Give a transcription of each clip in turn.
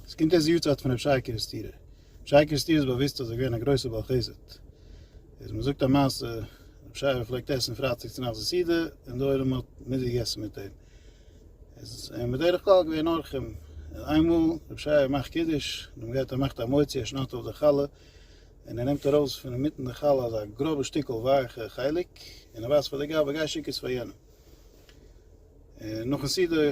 עס קומט אויס די יארצייט פון רבי שי קערעסטירער. רבי שי קערעסטירער איז באוויסט אז ער איז געווען א גרויסער בעל חסד. איז מען זאגט א מעשה, רבי שי האט געפלעגט עסן פרייטאג צו נאכט די סעודה, און די עולם האט מיטגעגעסן מיט אים. איז אים בדרך כלל געווען אורחים. און איינמאל רבי שי מאכט קידוש, און מען גייט ער מאכט א מוציא, ער שניידט אויף די חלה, און ער נעמט ארויס פון אינמיטן די חלה אזא גראבע שטיקל ווייעכע חלק, און ער ווייזט פאר די גבאי, גיי שיק עס פאר יענעם. און נאכן סעודה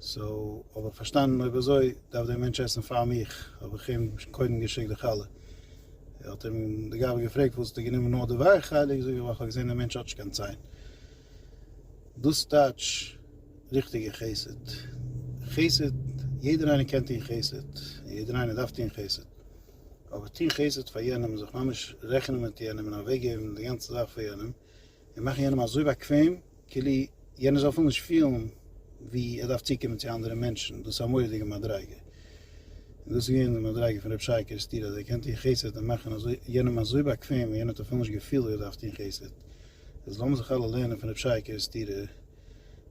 סאו האב איך פארשטאנען אויב אזוי דארף דער מענטש עסן פאר מיך, האב איך אים קודם געשיקט די חלה, ער האט אים די גאבע געפרעגט וואלסט די גענומען נאר די ווייעכע חלק, זאג איך ווייל כ'האב געזען דער מענטש האט נישט קיין ציין, דאס טייטש ריכטיגע חסד, חסד יעדער איינער קען טון חסד, יעדער איינער דארף טון חסד, אבער טון חסד פאר יענעם זיך ממש רעכענען מיט יענעם און אוועקגעבן די גאנצע זאך פאר יענעם, און מאכן יענעם אזוי באקוועם כאילו יענער זאל אפילו נישט פילן ווי ער דארף צוקומען צו אנדערע מענטשן, דאס איז א מורא'דיגע מדריגה, און דאס איז געווען די מדריגה פון ר' שי קערעסטיר אז ער קען טון חסד און מאכן אזוי יענעם אזוי באקוועם ווי יענער האט אפילו נישט געפילט ווי ער דארף טון חסד, איז לאמיר זיך אלע לערנען פון ר' שי קערעסטיר.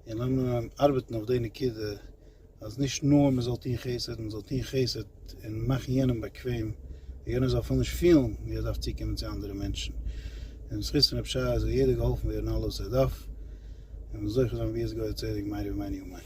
און לאמיר ארבעטן אויף די נקודה אז נישט נאר מען זאל טון חסד, מען זאל טון חסד און מאכן יענעם באקוועם, ווי יענער זאל אפילו נישט פילן ווי ער דארף צוקומען צו אנדערע מענטשן. און בזכות פון רב שי זאל יעדער געהאלפן ווערן אלעס וואס ער דארף, און זוכה זיין ביאות גוי צדק מהרי ומעני ומעני.